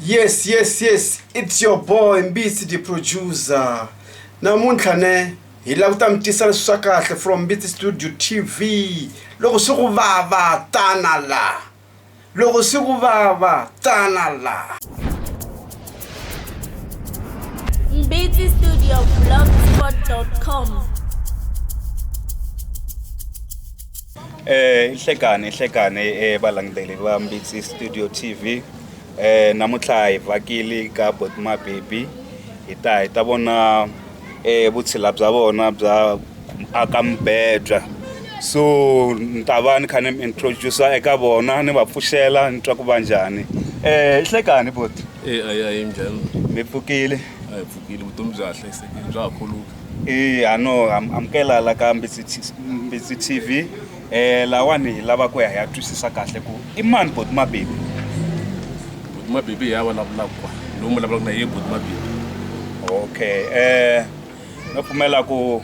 yes yes yes it's your boy mbitsi the producer namuntlha ne hi lava ku ta mi tisa leswi swa kahle from mbitsi studio tv loko swi ku vava tana laha loko swi ku vava tana laha mbitsi studio blogspot.com Eh ihlekani ihlekani eh balangiteli va Mbitsi Studio TV eh namuntlha hi vakili ka Botima Baby hi ta hi ta vona eh vutshila bya vona bya aka mbedwa so ni ta va ni kha ni introduce eka vona ni va pfuxela ni twa ku va njhani eh ihlekani boti eh ayi ayi njhani mi pfukile a hi pfukile vutomi bya ha hlayisekile bya ha khuluka Eya ha no amukela la ka Mbitsi Mbitsi TV eh lawani hi lava ku ya hi ya twisisa kahle ku i mani boti mabibi boti mabibi ya vulavulaka kwa lowu mi vulavulaka na ye boti mabibi okay eh no pfumela ku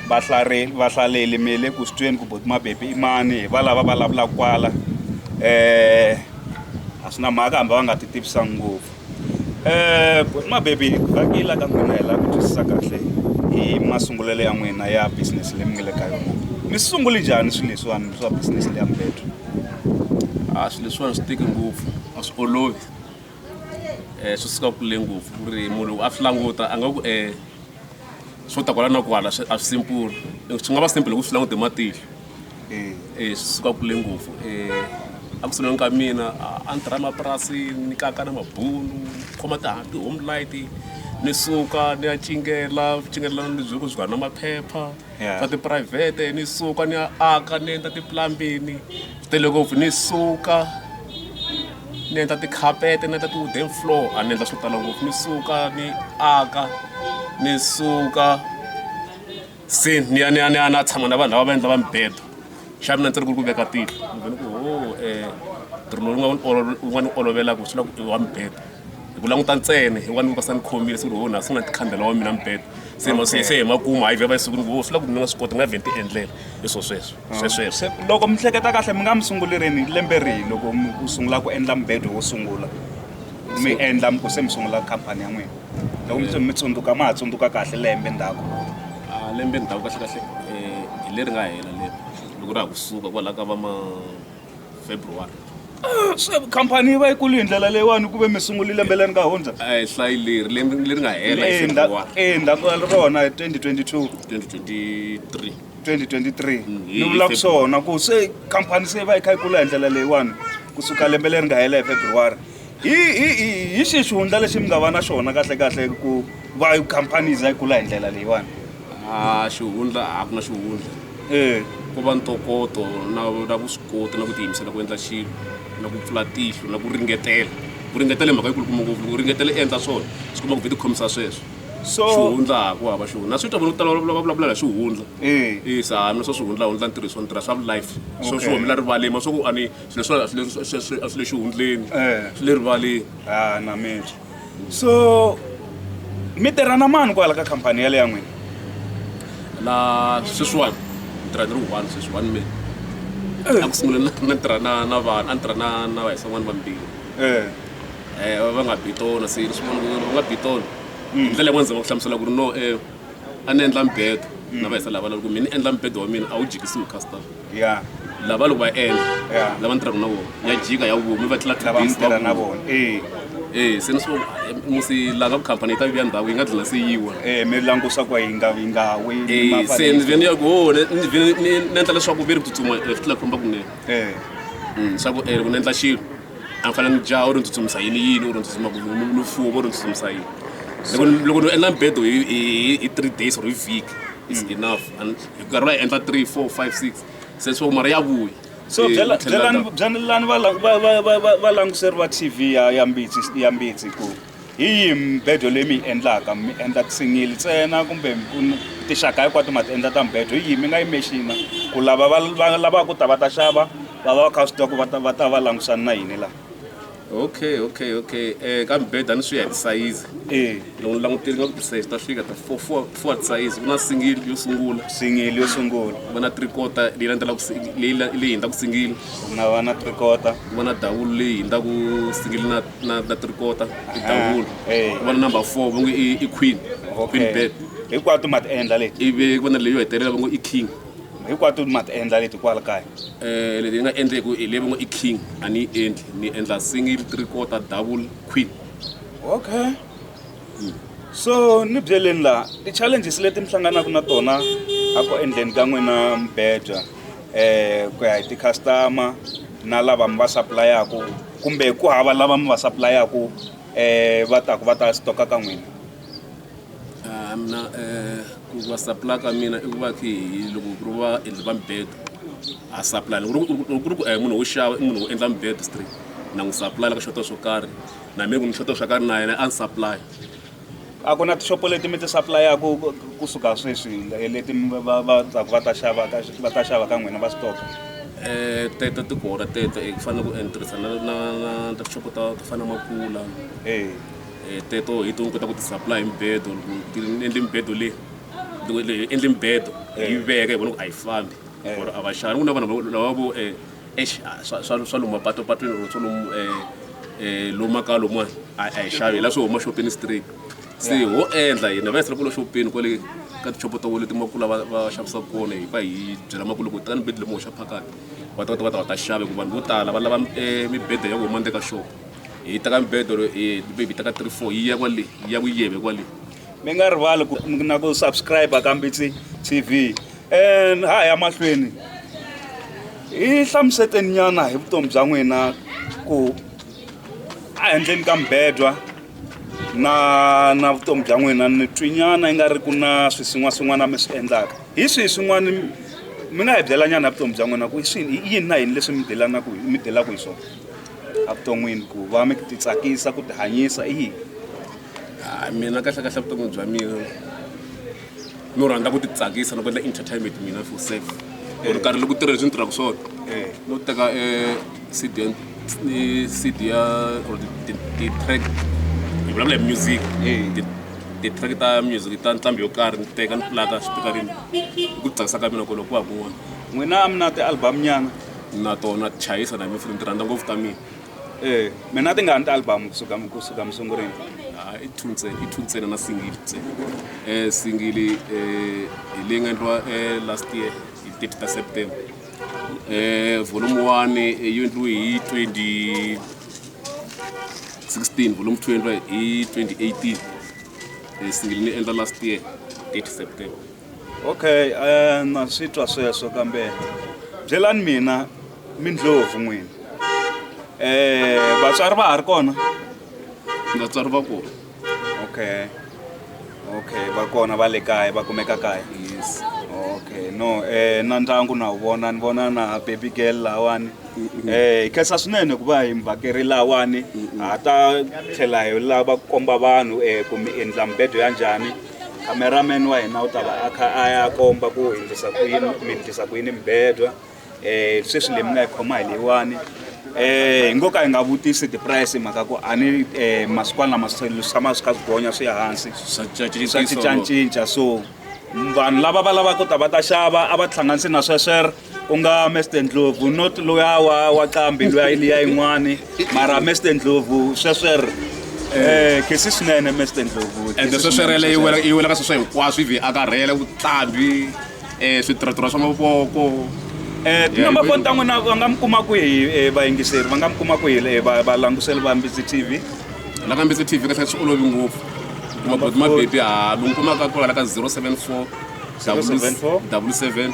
vahlari vahlaleli mi le ku sitweni ku boti mabibi i mani hi va lava vulavulaka kwala eh a swi na mhaka hambi va nga ti tivisanga ngopfu Mabebi vhakiyela ka n'wina hi la ku twisisa kahle hi masungulelo ya n'wina ya business leyi mi nga le ka yona mi sungule njhani swilo leswiwani swa business leya mubedo a swilo leswiwani swi tiki ngopfu a swi olovi um swi suka kule ngopfu ku ri munhu loko a swi languta a nga ku um swo ta kwala na kwala a swi simple swi nga va simple hi ku swi languta hi matihlo. swi suka kule ngopfu a ku sunguleni ka mina a ni tirha emapurasini ni kaka na mabunu khoma ti-home light ni suka ni ya cingela vucingelelano lebyi byi nga na maphepha swa tiphurayivhete ni suka ni ya aka ni endla ti-plumbing-i tele ngopfu ni suka ni endla tikhapeti ni endla ti-wooden floor a ni endla swo tala ngopfu ni suka ni aka ni suka. se ni ya ni ya ni ya na tshama na vanhu lava va endla va mibedo xa mina ndzi ri ku ri ku veka tihlo ni vone ku ho um ntirho lowu nga wu nga ni olovela ku swi la ku i wa mibedo hi ku languta ntsena hi wa ni vukasa ni khomile siku ri ho na sungula tikhandela wa mina mibedo se ma se se hi makumu hayi vheva esikwini ku ho swi la ku ni nga swi koti ni nga vhe ni ti endlela hi swo sweswo swesweswo Se, loko mi hleketa kahle mi nga mi sunguli rini lembe rihi loko mi ku sungula ku endla mubedo wo sungula mi endla mi ku se mi sungula khampani ya n'wina loko mi mi tsundzuka ma ha tsundzuka kahle lembe ndzhaku a lembe ndzhaku kahle kahle eh, hi leri nga hela leri loko ra ha kusuka kwalaho ka va ma february se khampani yi va yi kulu hi ndlela leyiwani ku ve mi sunguli lembe leri nga hundza a hi hlayi leri lembe leri nga hela hi february endzhaku ka rona hi 2022 2023 2023 Mm, hi- ni vula ku hi- swona ku se khampani se yi va yi kha yi kula hi ndlela leyiwani kusuka lembe leri nga hela hi february hi hi hi hi xihi xihundla lexi mi nga va na xona kahlekahle ku va khampani yi za yi kula hi ndlela leyiwani a xihundla a ku na xihundla ee ku va ntokoto na na vuswikoti na ku tiyimisela ku endla xilo na ku pfula tihlo na ku ringetela ku ringetela hi mhaka yi kulukumba ngopfu ku ringetela i endla swona swi kuma ku vhe ti khomisa sweswo so xihundla ha ku hava xihundla na swi twa vanhu ku tala va vulavula- va vulavula hi swihundla ee isa hambi swa swihundlahundla ntirhiso ni tirha swa life swo swi Okay. humela rivaleni ma swa ku a ni leswiwani a swi le- swi- swi- a swi le xihundleni Eh. swi le rivaleni ha na miri so mi tirha na mani kwala ka khampani yale ya n'wina la sweswiwani ni tirha ni ri one sweswiwani mina a ku sungula na- na tirha na na vanhu a ni tirha na na vahisan'wana vambirhi Eh, Eh, va nga bitona se swin'wana va nga bitona hi ndlela yin'wana ndzi va ku hlamusela ku ri no um a ni endla mbedo na vahisa lava loko mina ni endla mbedo wa mina a wu jikisiwi customer ya lava loko va endla Ya. lava ni tirhaka na vona ya jika ya vumi va tlula lava tidays va tirha na vuma. vona eh eh se ni swo eh, musi langa khampani yi ta vuya ndhawu yi nga dlina se yiwa eh mi langusa ku yi nga yi nga wi Eh, se ni vhe ni ya ku ho ni ni vhe ni- ni ni endla leswaku ve ri tsutsuma eh, swi tlula khomba kunene eh Mm, swa ku eh, loko ni endla xilo a ni fanele ni jaha u ri ni tsutsumisa yini yini u ri ni tsutsuma ku ni- ni- ni fuwa u ri ni tsutsumisa yini loko ni- loko ni endla mbedo hi- hi hi three days or hi vhiki is enough And- hi karhi va yi endla 3 4 5 6 se swo mara ya vuya so Eh, byela- tlhela byelani ndza- byelani va lang- va- va- va- va- valanguseri va tv ya ya mbitsi ya mbitsi ku hi yihi mbedo leyi mi yi endlaka mi endla tisingili ntsena kumbe ku n- tixaka hinkwato ma ti endla ta mbedo hi yihi mi nga yi mexina ku lava va va lavaka ku ta va ta xava va va va kha va swi tiva ku va ta va ta va langusana na yini laha okay okay okay um ka mibeda ni swi ya hi tisayizi e loko ni langutile nga ku tisayizi ta fika ta four four four tisayizi ku na singili yo sungula singili yo sungula ku va na three quarter leyi landzelaku leyi leyi hindzaku singili ku nga va na three quarter ku va na dawulu leyi hindzaku singili na na na three quarter i ah, dawulu ku va na number four va nge i queen queen bed hinkwato ma ti endla leti ivi ku va na leyo hetelela va ngo i king hinkwato ma ti endla leti kwala kaya um leti ni nga endleku hi leyi va ngo i king a ni yi endli ni endla single three quarter double queen okay hmm. so ni byeleni laha ti-challenges leti mi hlanganaka na tona a ku endleni ka n'wina mibedwa um eh, ku ya hi ti-customer na lava mi va supplayaku kumbe ku hava lava mi va supplayaku um eh, va taku va ta stoka ka n'wina Ah, mina eh, ku va supply ka mina i ku va khi hi loko ku ri va endli va mibedo a supply loko ku ri- loko ku ri ku eh, munhu wo xava i munhu wo endla mibedo straight na n'wi supply ka xota swo karhi na mina ku ni xota swo karhi na yena a ni supply a ku na tixopo leti mi ti supply-aka ku- kusuka sweswi eh, leti mi va- va- va tsaka va ta xava ka va ta xava ka n'wina va stoka Eh, tete ti kona tete eh, ku fanele ku eh, ni tirhisana na na na tixopo ta to fana na makula ee Eh, teto hi tihuku ta ku ti-supply hi mibedo loko ti endli mibedo leyi loko leyi endli mibedo hi yi veka hi vona ku a yi fambi Eh. or a va xani ku na vanhu lava- lava vo eh, eish, ah, swa- swa swa lomu mapatopatweni or swa lomu eh, eh, lomu makaya lomuwani a a hi xavi hi la swi huma xopeni straight se Yeah. ho endla hina va yisela kule xopeni kwale ka tichopo ta wole timakula va va xavisaka kona hi va hi byela makulu ku tani bedi lemuhoxa phakati va ta va ta va ta va ta xave ku vanhu vo tala va lava eh, mibedwa ya ku huma ndzeni ka xopo hi teka mibedo bebi teka three four yi ya kwale yi ya ku yeve kwale mi nga rivali ku na ku subscribe ka mbitsi tv and ha ya mahlweni hi hlamuseteni nyana hi vutomi bya n'wina ku ehenhleni ka mbedwa na na vutomi bya n'wina ni twinyana yi nga ri ku na swisin'waswin'wana mi swi endlaka hi swihi swin'wana mi nga hi byelanyana hi vutomi bya n'wina ku i swini i yini na yini leswi mi delanaku mi delaku hi swona evuton'wini ku va mi ti tsakisa ku tihanyisa i yini a mina kahle kahle vutomi bya mina no rhandza ku ti tsakisa loko endla entertainment mina for self or eh. karhi loko tirha leswi ni tirhaka swona eh. no teka eh, cd ni cd ya or ti-track hi vulavula hi music ti-track ta music ta nqambi yo karhi ni teka ni pulaka swipikarini hi ku tsakisa ka mina ku loko ku va kun'wana n'wina mi na ti-album nyana na tona chayisa na mifuni ti rhandza ngopfu ta mina e mina ti nga ni ti-album kusuka kusuka musunguleni ah, i two ntsena i two ntsena na singili ntsena um singili um hi leyi nga endliwa um last year hi thirty ta september um volume one yo endliwe hi twenty sixteen volume two endliwa hi twenty eighteen um singili ni endla last year thirty september okay um na swi twa sweswo kambe byelani mina mindlovu n'wini um vatswari va ha ri kona vatswari va kona okay okay va kona va le kaya va kumeka kaya yes okay no um na ndyangu na wu vona ni vona na baby girl lawani um hi khensa swinene ku va hi muvhakeri lawani ha ta tlhela hi lava ku komba vanhu um ku mi endla mibedo ya njhani cameraman wa hina u ta va a kha a ya komba ku hi ndlisa ku yini mi ndlisa ku yini mibedwa um sweswi leyi mi nga yi khoma hi leyiwani um hi ngo ka hi nga vutisi ti-price hi mhaka ku a ni um masikwani lama swi tshama swi kha swi gonya swi ya hansi swa cincacinca so vanhu lava va lavaka ku ta va ta xava a va tihlanganisi na sweswere ku nga mester ndlovu not loya wa wa qambi loya yi liya yin'wani mara mester ndlovu sweswer eh khesi swinene mester ndlovu ende sweswerele yi wela yi wela ka sweswo hinkwaswo ivi a karhele vuqambi um switirhotirho swa mavoko Eh, tinamba foni ta n'wina va nga mi kuma kwihi eh, vayingiseri va nga mi kuma kwihi eh, va- valangutiseli va mbitsi tv la ka mbitsi tv kasi swi olovi ngopfu kuma boti mabebi ha mi n'wi kumaka kwala ka 074 074 double seven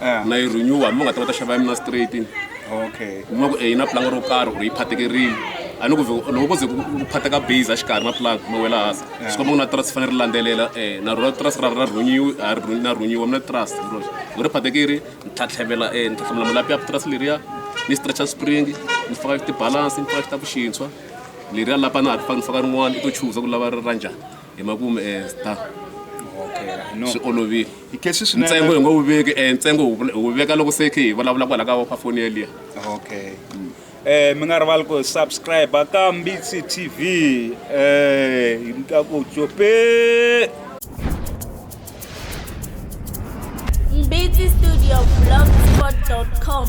Eh. na yi renewa hambi va nga ta va ta xava ya mina straight okay mi va ku e yi na planga ro karhi or yi phatekerile a ni ku vhe loko ko ze ku ku phateka base a xikarhi na plug ma wela hansi swi komba ku na trust fanele ri landzelela um na rona trust ra ra rhunyiwi a ri rhunyi- na rhunyiwa mi na trust hi roxe loko ri phatekile ni tlhatlhevela um ni tlhatlhevela malapi ya trust leriya ni stretcha spring ni faka tibalance ni faka xitaku xintshwa leriya lapa na ha ri faka ni faka rin'wana i to chuza ku lava ri ra njhani hi makumu ehenhla okay no swi olovile hi khe swi swi ntsengo hi nga wu veki eh, ntsengo wu vula- wu veka loko se khe hi vulavula kwala ka ka foni yeliya okay eh mi nga rivali ku subscribe ka mbitsi tv eh hi mita ku cope Mbiti Studio Blogspot.com.